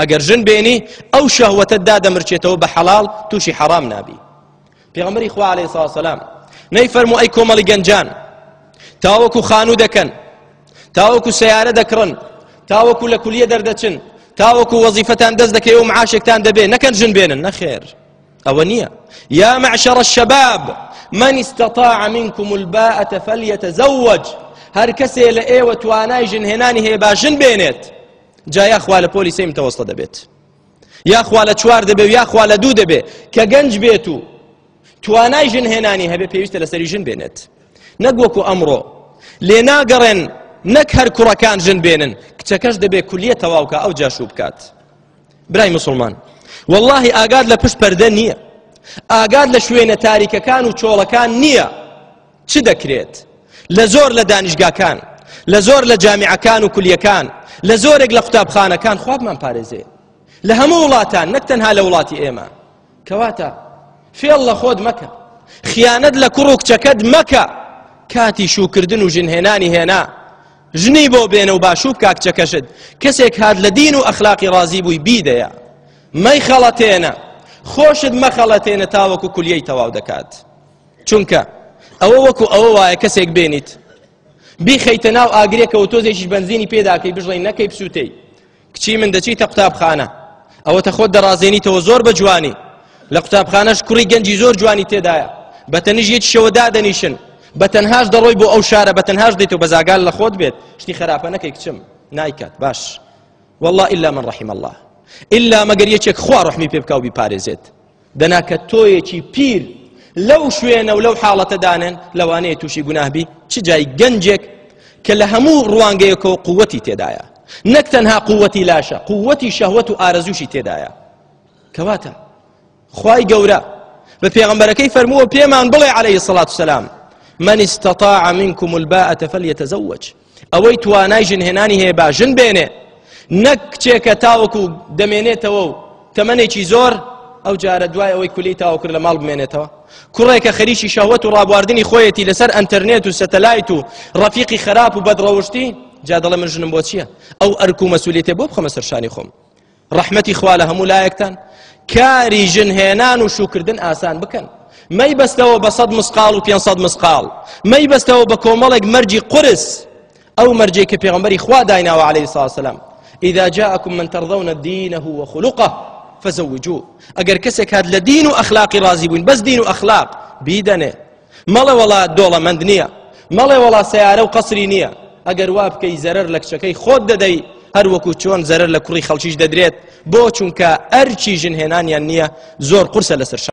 ئەگەر ژن بێنی ئەو شەهوەتە دادەمرچێتەوە بە حەڵاڵ تووشی حەرام نابی پێغەمبەری خوا عەلەیهی سڵاو سەلام نەیفەرموو ئەی کۆمەڵی گەنجان تاوەکو خانوو دەکەن تاوەکو سیارە دەکڕن تاوەکو لە کولیە دەردەچن تاوەکو وەزیفەتان دەست دەکەی و معاشێکتان دەبێ نەکەن ژن بێنن نەخێر ئەوە نییە یا معشەڕە شەباب من استطاع منكم الباءة فليتزوج هەر کەسێ لە ئێوە توانای ژنهێنانی هەیە با ژن بێنێت جا یا خوا لە پۆلی سێ متەوەستە دەبێت یا خوا لە چوار دەبێ و یا خوا لە دوو دەبێ کە گەنج بێت و توانای ژن هێنانی هەبێ پێویستە لەسەری ژن بێنێت نەک وەکو ئەمڕۆ لێ ناگەڕێن نەک هەر کوڕەکان ژن بێنن کچەکەش دەبێ کولیە تەواوکە ئەو جاشو بکات برای مسلمان واللهی ئاگاد لە پشت پەردە نییە ئاگاد لە شوێنە تاریکەکان و چۆڵەکان نییە چ دەکرێت لە زۆر لە دانیشگاکان لە زۆر لە جامیعەکان و کولیەکان لە زۆرێک لە قوتابخانەکان خوابمان پارێزێ لە هەموو وڵاتان نەک تەنها لە وڵاتی ئێمە کەواتە فێڵ لە خۆت مەکە خیانەت لە کوڕ و کچەکەت مەکە کاتی شوکردن و ژنهێنانی هێنا ژنی بۆ بێنە و باشوب کاکچەکەشت کەسێک هات لە دین و ئەخلاقی ڕازی بووی بیدەیە مەی خەڵەتێنە خۆشت مەخەڵەتێنە تاوەکو کولیەی تەواو دەکات چونکە ئەوە وەکو ئەوە وایە کەسێک بێنیت بیخەیتە ناو ئاگرێکەوە تۆزێکیش بنزینی پێداکەی بژڵی نەکەی بسووتەی کچی من دەچیتە قوتابخانە ئەوە تە خۆت دەڕازێنیتەوە زۆر بە جوانی لە قوتابخانەش کوڕی گەنجی زۆر جوانی تێدایە بە تەنیش یەکی شەوە دادەنیشن بە تەنهاش دەڕۆی بۆ ئەو شارە بە تەنهاش دێت و بەزاگال لە خۆت بێت شتی خراپە نەکەی کچم نایکات باش والله إلا من رحم الله إلا مەگەر یەکێک خوا ڕحمی پێ بکاو بیپارێزێت دەنا کە تۆیەکی پیر لەو شوێنە و لەو حاڵەتەدانن لەوانەیە تووشی گوناهبی چ جای گەنجێک کە لە هەموو ڕوانگەیەکەوە قووەتی تێدایە نەک تەنها قووەتی لاشە قووەتی شەهوەت و ئارەزوشی تێدایە کەواتە خی گەورە بە پێغمبەرەکەی فەرمووە پێمان بڵێ عليه سڵات سلام من استطاع منكم الباءة فليتزوج ئەوەی توانای ژن هێنانی هەیە با ژن بێنێ نەک کچێکە تاوەکو دەمێنێتەوە و تەمەێکی زۆر ئەو جارە دوای ئەوەی کولی تاوە کرد لە ماڵ بمێنێتەوە کوڕێکە خەریکی شەوەت و ڕابواردنی خۆیەتی لەسەر ئەتەرنێت و سەتەلایت و ڕەفیقی خراپ و بەدڕەوشتی جا دەڵێ من ژنم بۆ چییە ئەو ئەرک و مەسوولێتێ بۆ بخەمە سەرشانی خۆم ڕەحمەتی خوا لە هەموو لایەکتان کاری ژن هێنان و شوکردن ئاسان بکەن مەی بەستەوە بە سەد مسقال و پێ سەد مسقال مەی بەستەوە بە کۆمەڵێک مەرجی قرس ئەو مەرجێک کە پێغمبەری خوا دایناوە عليه ساسلام إذا جاءكم من ترضون دينه وخلقه فزوجوه ئەگەر کەسێک هات لە دین و ئەخلاقی ڕازی بووین بەس دین و ئەخلاق بیدەنێ مەڵێ وەڵا دۆڵەمەند نییە مەڵێ وەڵا سەیارە و قەسری نییە ئەگەر وا بکەی زەرەر لە کچەکەی خۆت دەدەی هەر وەکو چۆن زەرەر لە کوڕی خەڵکیش دەدرێت بۆ چونکە ئەرچی ژنهێنانیان نییە زۆر قورسە لەسەر